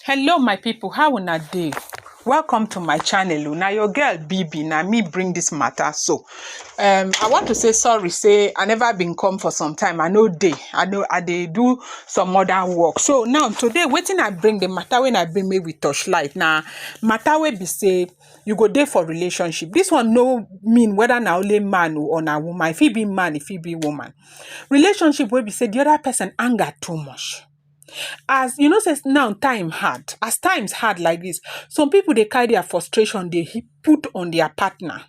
Hello my people, how una dey? Welcome to my channel o. Na your girl BB, na me bring this matter so. Um, I want to say sorry say I never been come for some time. I no dey. I no I dey do some other work. So now today wetin I bring the matter when I bring make we touch light na matter wey be say you go dey for relationship. This one no mean whether na only man o or na woman. E fit be man, e fit be woman. Relationship wey be say the other person anger too much. As you know say now time hard, as times hard like dis, some pipu dey carry dia frustration dey heap put on dia partner.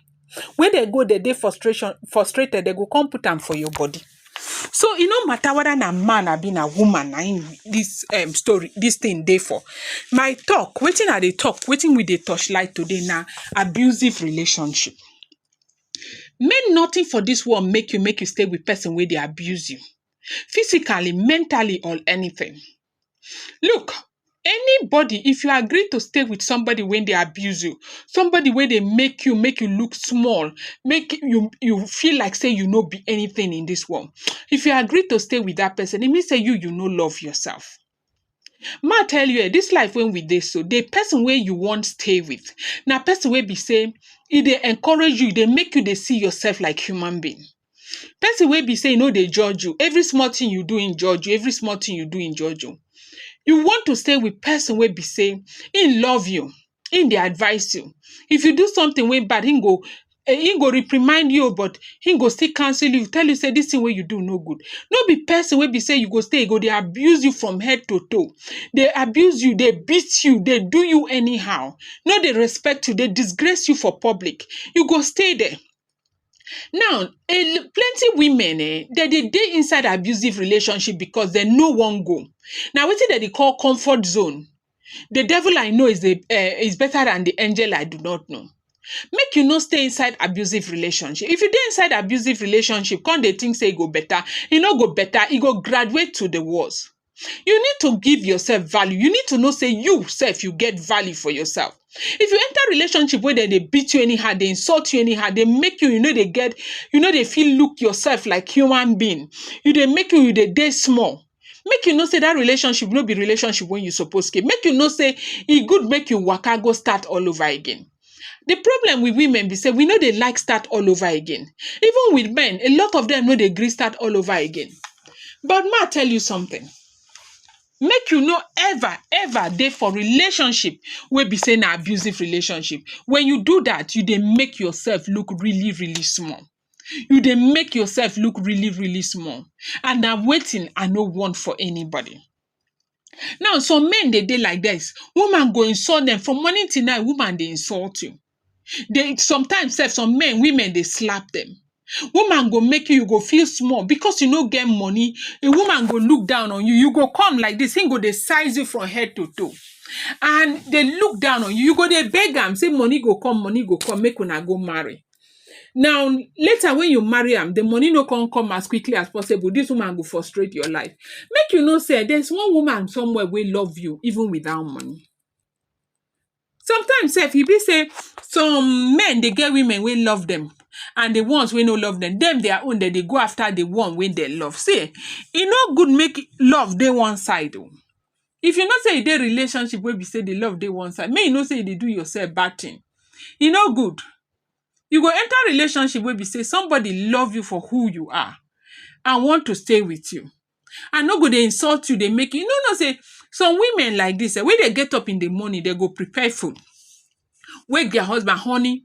Wen dey go dey dey frustration frustrated, dey go come put am for your body. So e no matter whether na man abi na woman na im dis um story dis thing dey for. My talk, wetin I dey talk, wetin we dey touch light today na abusive relationship. Make nothing for dis world make you make you stay wit person wey dey abuse you. physically, mentally or anything. Look, anybody if you agree to stay with somebody wey dey abuse you, somebody wey dey make you make you look small, make you you feel like sey you no be anything in dis world, if you agree to stay with dat person e mean sey you you no love yourself. Ma tell you um dis life wey we dey so, the person wey you wan stay with na person wey be sey e dey encourage you, e dey make you dey see yourself like human being. Person wey be sey e no dey judge you. Every small thing you do, im judge you. Every small thing you do, im judge you. You want to stay with person wey be sey im love you. him dey advice you. If you do something wey bad, him go um him go reprimand you o but him go still counsel you, tell you sey dis thing wey you do no good. No be person wey be sey you go stay, e go dey abuse you from head to toe, dey abuse you, dey beat you, dey do you anyhow, no dey respect you, dey disgrace you for public, you go stay there. Now um plenty women um dem dey dey inside abusive relationship because dem no wan go. Na wetin dem dey call comfort zone The devil I know is, a, uh, is better than the angel I do not know. Make you no stay inside abusive relationship. If you dey inside abusive relationship, come they think say e go better. E no go better. E go graduate to the worst. You need to give yourself value. You need to know say you self you get value for yourself. If you enter relationship where they, they beat you anyhow, they insult you anyhow, they make you, you know, they get, you know, they feel look yourself like human being. You they make you, you they day small. make you know sey dat relationship no be relationship wey you suppose keep, make you know sey e good make you waka go start all over again. De problem wit women be sey we no dey like start all over again, even wit men a lot of dem no dey gree start all over again. But ma tell you something, make you no ever ever dey for relationship wey be sey na abusive relationship, wen you do dat you dey make yourself look really really small. You dey make yourself look really really small and na wetin I no want for anybody. Now some men dey dey like dis, woman go insult dem from morning till night woman dey insult you, den sometimes sef some men women dey slap dem, woman go make you you go feel small because you no get money di woman go look down on you, you go come like dis im go dey size you from head to toe and dey look down on you, you go dey beg am sey money go come money go come make una go marry. Now, later when you marry am, the money no come come as quickly as possible. This woman go frustrate your life. Make you know, say there's one woman somewhere will love you even without money. Sometimes, if you be say some men they get women will love them, and the ones we no love them, them their own that they go after the one when they love. See, it no good make love day one side. oh. If you know sey you dey relationship wey be sey the love dey one side, make you know sey you dey do yourself bad thing. E no good. You go enter relationship wey be sey somebody love you for who you are and want to stay with you and no go dey insult you, dey make you. You no know sey some women like dis um when they get up in the morning, they go prepare food, wake their husband, honey,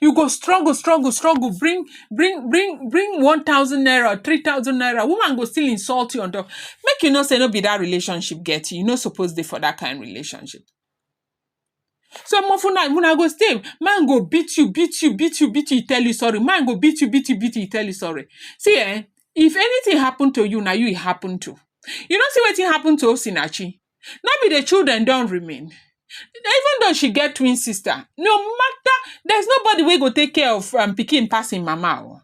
you go struggle struggle struggle bring bring bring bring one thousand naira or three thousand naira woman go still insult you on top make you know say no be that relationship get you you no suppose dey for that kind relationship so mo una una go stay man go beat you beat you beat you beat you tell you sorry man go beat you beat you beat you tell you sorry see eh if anything happen to you na you e happen to you no see wetin happen to osinachi no be the children don remain even though she get twin sister no matter there's nobody wey go take care of um, pikin pass im mama o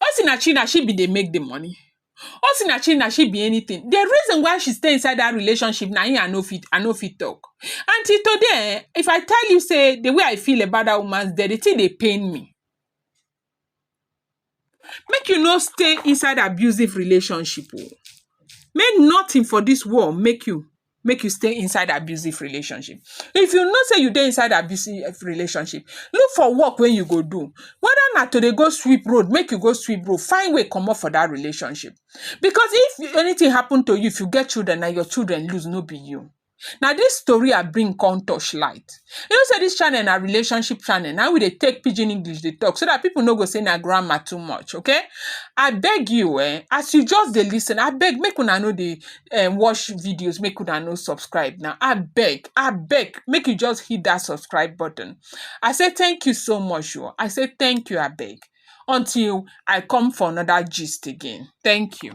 osinachi na she bin dey make the money osinachi na she be anything the reason why she stay inside that relationship na im i no fit i no fit talk and till today eh if i tell you say the way i feel about that woman the the thing dey pain me Make you no stay inside abusive relationship oh. Make nothing for dis world make you make you stay inside abusive relationship. If you know sey you dey inside abusive relationship, look for work wey you go do. Whether na to dey go sweep road, make you go sweep road. Find way comot for dat relationship. Because if anything happen to you, if you get children, na your children lose, no be you. Na dis tori I bring come touch light. You know sey dis channel na relationship channel, na im we dey take pidgin English dey talk so dat pipu no go say na grammar too much okay. I beg you um as you just dey lis ten abeg make una no dey um watch videos make una no subscribe now abeg abeg make you just hit dat subscribe button. I say thank you so much oo, I say thank you abeg until I come for another gist again, thank you.